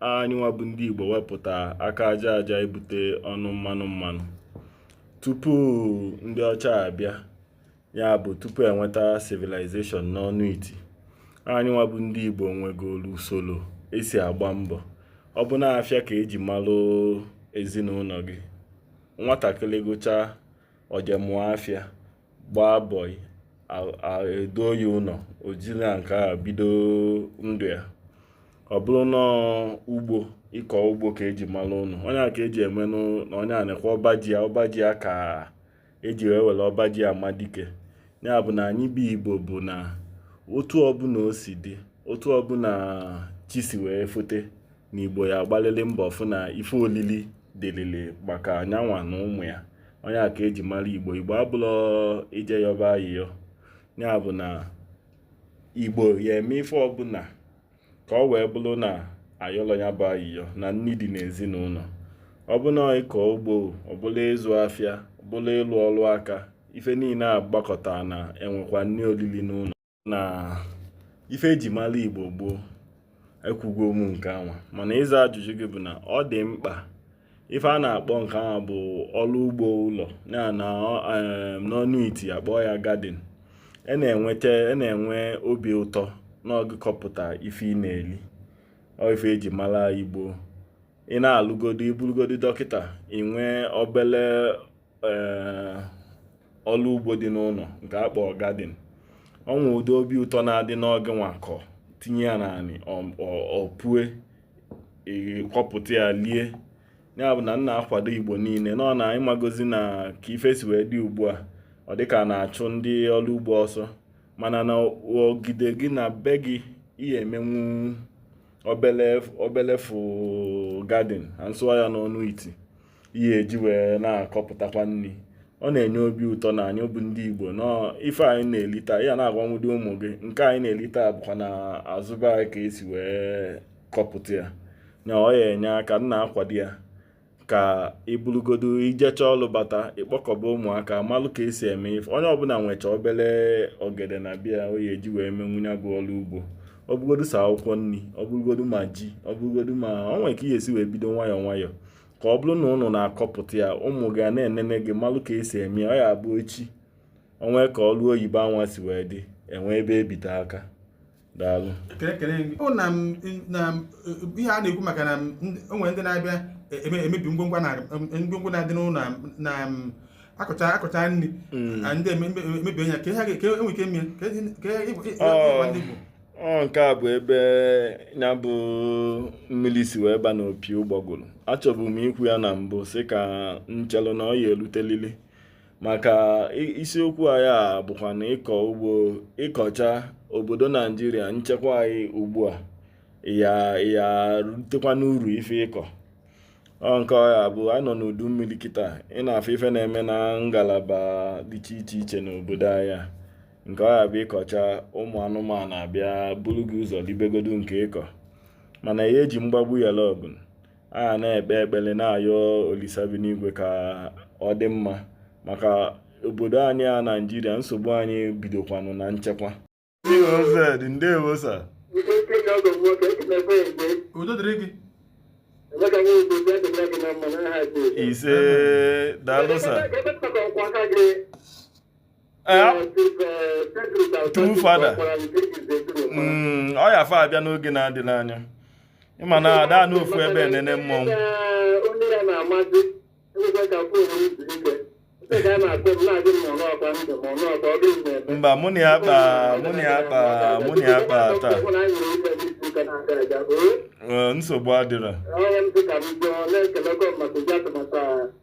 anyịnwa bụ ndị Igbo wepụta aka aja aja ebute ọnụ mmanụ mmanụ tupu ndị ọcha abịa ya bụ tupu enweta civilization n'ọnụ iti anyịnwa bụ ndị Igbo nwegolu usoro esi agba mbọ ọ bụ n'afịa ka eji malụ ezinụlọ gị nwatakịrị gụchaa o je mụọ afịa gbaa bọị e duo ya ụlọ o jiri nke a bido ndụ ya ọ bụrụ na ugbo ịkọ ugbo ka eji mara ụnụ ọ nya ka eji eme ọnụ na onye a nekwa ọba ji ya ọba ji ya ka eji wee were ọba ji ama dike ya bụ na anyị bụ igbo bụ na otu ọbụla o si dị otu ọbụla chi si wee fote na Igbo ya agbalịrị mbọ fụ na ife olili dịrịrị maka nyanwa na ụmụ ya ọ nya ka eji mara Igbo Igbo abụlọ ije yọba ayịyọ ya bụ na Igbo ya eme ife ọbụla ka ọ wee bụrụ na ayọlọ ya bụ ayịyọ na nni dị n'ezinụlọ ọ bụ na ịkọ ugbo ọ bụrụ ịzụ afịa ọ bụrụ ịlụ ọrụ aka ife niile a gbakọta na enwekwa nni olili n'ụlọ na ife eji mara igbo gboo ekwugo m nke anwa mana ịza ajụjụ gị bụ na ọ dị mkpa ife a na-akpọ nke anwa bụ ọrụ ugbo ụlọ ya na n'ọnụ iti akpọ ya garden e na-enweta e na-enwe obi ụtọ na ọ gị kọpụta ife ị na-eli ọ ife eji mara igbo ị na-alụgodu ị bụrụgodu dọkịta ị nwee obele eh, ọrụ ugbo dị n'ụlọ nke a kpọọ garden o nwe ụdị obi ụtọ na-adị na ọ gịnwa kọ tinye ya n'anị o pue ị kọpụta ya lie ya bụ na m na-akwado igbo niile nọ na ịmagozi na ka ife si wee dị ugbu a ọ dịka a na-achụ ndị ọrụ ugbo ọsọ mana na ogige gị na be gị ị ya emenwu obele obele fụ garden m sụwa ya n'ọnụ iti ị ya eji wee na-akọpụtakwa nni ọ na-enye obi ụtọ na anyị bụ ndị igbo na ife anyị na-eli taa ị ya na-agwanwudi ụmụ gị nke anyị na-eli taa bụkwa na azụ be anyị ka esi wee kọpụta ya na ọ ya enye aka m na-akwado ya ka ị bụrụgodu i jecha ọlụ bata ị kpọkọba ụmụaka malụ ka esi eme ife onye ọbụla nwecha obele ogede na be ya ọ ya eji wee menwu ya bụ ọlụ ugbo ọ bụgodu sọ akwụkwọ nri ọ bụrụgodu ma ji ọ bụrụgodu ma ọ nwere ka ị ya esi wee bido nwayọọ nwayọọ ka ọ bụrụ na ụnụ na-akọpụta ya ụmụ gị na-enene gị malụ ka esi eme ya ọ ya abụ echi o nwe ka ọrụ oyibo anwa si wee dị enwe ebe ebite aka daalụ ihe a na-ekwu maka na o nwe ndị na-abịa e, e, emebi ngwongwo ngwongwo na-adị n'ụlọ na akọcha akọcha nni mm. ndị emebi anya ka enwe ike mie ka ndị Igbo ọ nke a bụ ebe ya bụ mmiri si wee ba n'opi ụgbọgụrụ achọbụ m ikwu ya na mbụ sị ka m chelụ na ọ ya-elutelili maka isiokwu anyị a bụkwa na ịkọ ugbo ị kọcha obodo naijiria nchekwa anyị ugbu a ya ya rutekwa n'uru ife ị kọ ọ nke ọ ya-abụ anyị nọ n'udu mmiri kịta ị na-afụ ife na-eme na ngalaba dị iche iche iche n'obodo anyị nke ọ ya-abụ ị kọcha ụmụ anụmanụ abịa bulu gị ụzọ libegodu nke ị kọ mana a ya-eji mgbagbu yalụ ọgụ a ga na-ekpe ekpele na-ayọ olisa bi n'igwe ka ọ dị mma maka obodo anyị a naijiria nsogbu anyị bidokwanụ na nchekwa udo dịrị gị ise daalụ true fada mm, ọ ya fa abịa n'oge na-adịrọ anya ị ma na ada anọ ofu ebe enene mmọnwụ mba mụ na ya kpa taa nsogbu adịrọ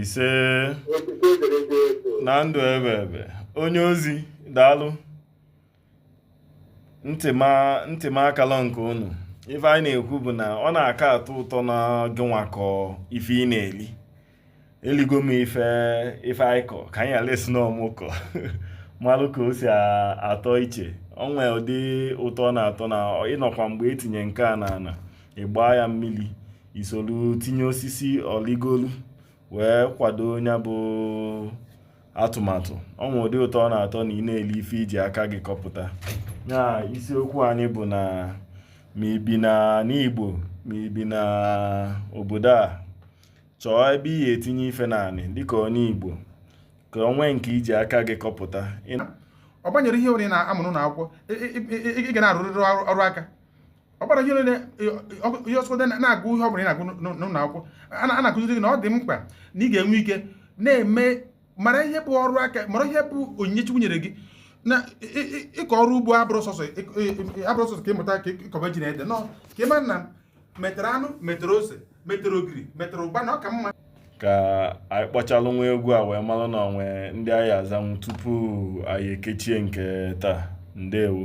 ise na ndụ ebe ebe onye ozi daalụ ntị m akala nke unu ife anyị na-ekwu bụ na ọ na-aka atọ ụtọ na gịnwa kọ ife ị na-eli eligo m ife ife anyị kọ ka anyị ala esi n'ọmụkọ malụ ka o si atọ iche o nwe ụdị ụtọ ọ na-atọ na ị nọkwa mgbe e tinye nke a n'ana ị gbaa ya mmiri i solu tinye osisi o ligolu wee kwado nya bụ tomato o nwe ụdị ụtọ ọ na-atọ na ị na-eli ife i ji aka gị kọpụta ya isiokwu anyị bụ na ma i bi na n'Igbo ma i bi na obodo a chọọ ebe ị ya-etinye ife n'anị dịka onye Igbo ka o nwee nke i ji aka gị kọpụta ọ gbanyere ihe onye na-amụrụ na akwụkwọ ị ga na-arụrịrị ọrụ aka ọ gbara ihe onye ihe ọsọdụ na-agụ ihe ọ bụla ị na-agụ n'ụlọ akwụkwọ a na-akụziri gị na ọ dị mkpa na ị ga-enwe ike na-eme mara ihe bụ ọrụ aka mara ihe bụ onyinye Chukwu nyere gị na ịkọ ọrụ ugbo abụrọ sọsọ ka ị mụta ka ị kọba ji na ede no kama na metere anụ metere ose metere ogiri metere ụgba na ọ ka mma ka anyị kpọchalụ nwa egwu a wee malụ na o nwe ndị anyị azanwu tupu anyị ekechie nke taa ndewo